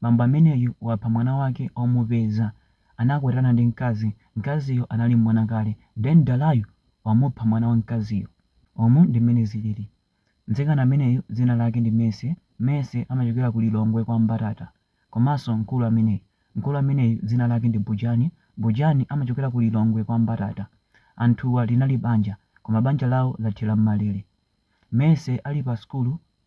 Bambo ameneyu wapha mwana wake omupeza anakwatirana ndi mkazi, mkaziyo anali mwana kale then dalayu wamupha mwana wa mkaziyo. Umu ndi mmene zilili. Mtsikana ameneyu dzina lake ndi Mercy, Mercy amachokera ku Lilongwe kwa Mbatata. Komanso mkulu ameneyu, mkulu ameneyu dzina lake ndi Bujani, Bujani amachokera ku Lilongwe kwa Mbatata. Anthuwa linali banja koma banja lawo lathera m'malere. Mercy ali pa sukulu.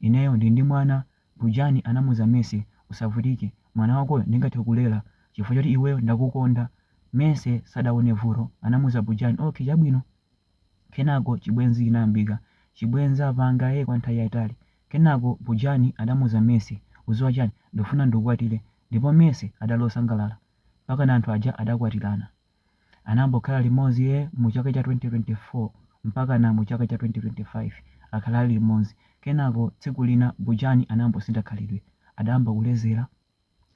Ineyo ndili ndi mwana, Bujani anamuuza Mercy. Usavutike, mwana wakoyo ndingathe kulera chifukwa choti iweyo ndakukonda. Mercy sadaone vuto, anamuuza Bujani. Okay, chabwino. Kenako chibwenzi chinayambika. Chibwenzi apanga ee kwa nthawi yaitali. Kenako Bujani adamuuza Mercy. Udziwa chani? Ndikufuna ndikukwatire. Ndipo Mercy adali osangalala. Mpakana anthu aja adakwatirana. Anayambokhala limodzi e mu chaka cha 2024 mpakana mu chaka cha 2025 akhala ali limodzi. Kenako tsiku lina Bujani anayambosintha khalidwe. Adayamba kulezera,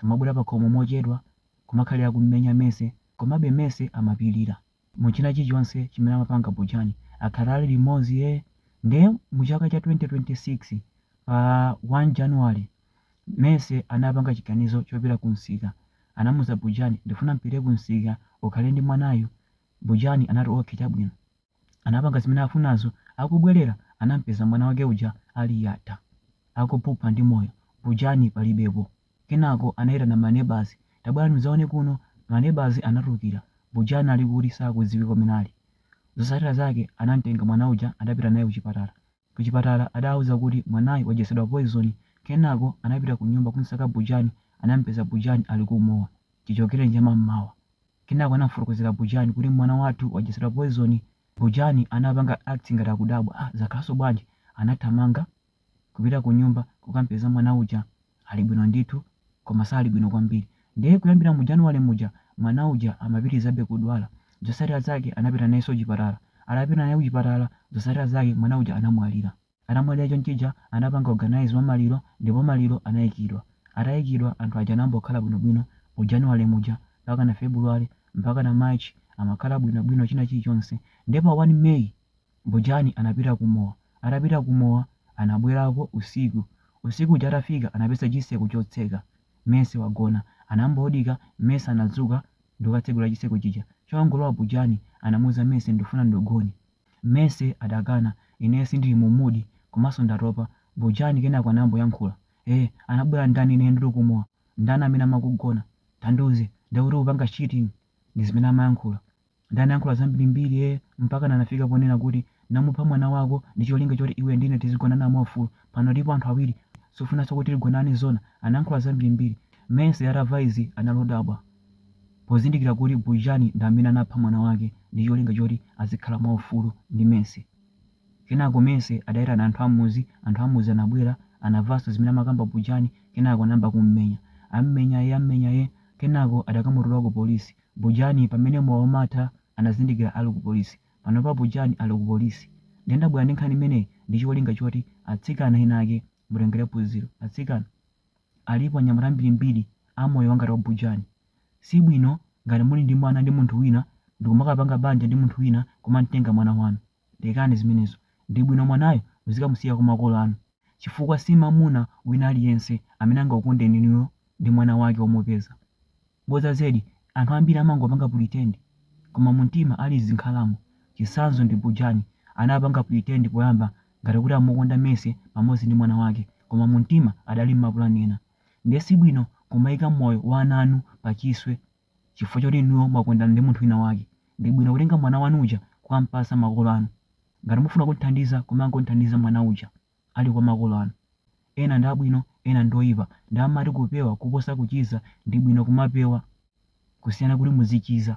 kumabwera pakhomo mochedwa, kumakhalira kummenya Mercy komabe Mercy amapilira. Mu china chilichonse chimene amapanga Bujani akhala ali limodzi e. Nde mu chaka cha 2026 pa 1 January Mercy anapanga chiganizo chopita ku nsika. Anamuuza Bujani, ndifuna mpite ku nsika ukhale ndi mwanayu. Bujani anati okay chabwino. Anapanga zimene afunazo. Akubwerera anampeza mwana wake uja ali yatha. Akuphupha ndi moyo. Bujani palibepo. Kenako anaitana ma neighbours, tabwerani mudzaone kuno. Ma neighbours anatulukira. Bujani ali kuti sakudziwika kumene ali. Zotsatira zake anamtenga mwana uja anapita naye ku chipatala. Kuchipatala adawauza kuti mwanayu wadyetsedwa poison kenako anapita kunyumba kumsaka Bujani anamupeza Bujani ali ku mowa chichokereni cha mammawa kenako anamufotokozera Bujani kuti mwana wathu wadyetsedwa poison Bujani anapanga act ngati akudabwa ah zakhalaso bwanji anathamanga kupita kunyumba kukamupeza mwana uja Ali bwino ndithu koma sali bwino kwambiri nde kuyambira mu January muja mwana uja amapitilizabe kudwala zotsatira zake anapita nayeso kuchipatala atapita naye kuchipatala zotsatira zake mwana uja anamwalira atamwalira chonchija anapanga organise wa maliro ndipo maliro anaikidwa ataikidwa anthu aja anayambokhala bwino bwino mu January muja mpakana February mpakana March amakhala bwino bwino china chilichonse nde pa 1 May Bujani anapita ku mowa. Atapita ku mowa anabwelako usiku. Usiku uja atafika anapeza chiseko chotseka. Mercy wagona. Anambodika Mercy anadzuka ndikukatsegula chiseko chija. Chongolowa Bujani anamuuza Mercy ndufuna ndugone. Mercy adakana ineyo sindili mu mood komanso ndatopa. Bujani kenako anayamboyankhula. Eh anabwela ndani ineyo ndili ku mowa? Ndani amene amakugona? Tandiuze. Ndekuti ukupanga cheating? Ndizimene amayankhula. Ndiye anayankhula zambirimbiri ee mpakana anafika ponena kuti ndamupha mwana wako ndi cholinga choti iwe ndi ine tizigonana mwaufulu. Pano tilipo anthu awiri. Sufunanso kuti tigonane zoona? Anayankhula zambirimbiri. Mercy atamva izi anali odabwa pozindikira kuti Bujani ndi amene anapha mwana wake ndi cholinga choti azikhala mwaufulu ndi Mercy. Kenako Mercy adaitana anthu ammudzi, anthu ammudzi anabwera, anamvanso zimene amakamba Bujani kenako anayamba kummenya. Ammenya ee ammenya ee kenako adakamutula ku polisi. Bujani pamene mowa umatha anazindikira ali ku polisi. Panopa Bujani ali ku polisi. Ndiye ndabwera ndi nkhani imeneyi ndi cholinga choti atsikana ena ake mutengere phunziro. Atsikana, alipo anyamata ambirimbiri a moyo wangati wa Bujani. Si bwino ngati muli ndi mwana ndi munthu wina ndikumakapanga banja ndi munthu wina kumamtenga mwana wanu. Lekani zimenezo. Ndi bwino mwanayo muzikamusiya kwa makolo anu chifukwa si mwamuna wina aliyense amene angakukondeni inuyo ndi mwana wake womupeza. Bodza zedi, anthu ambiri amangopanga pretend koma mumtima ali zinkhalamo. Chitsanzo ndi Bujani, anapanga pretend poyamba ngati kuti amukonda Mercy pamodzi ndi mwana wake koma mumtima adali n'mapulani ena. Ndiye si bwino kumaika moyo wa ana anu pachiswe. Chifukwa choti inuyo mwakondana ndi munthu wina wake, ndi bwino kutenga mwana wanu uja kukam'patsa makolo anu. Ngati mufuna kum'thandiza, kumangom'thandiza mwana uja ali kwa makolo anu. Ena ndi abwino, ena ndi oipa. Ndiye amati kupewa kuposa kuchiza, ndi bwino kumapewa kusiyana kuti muzichiza.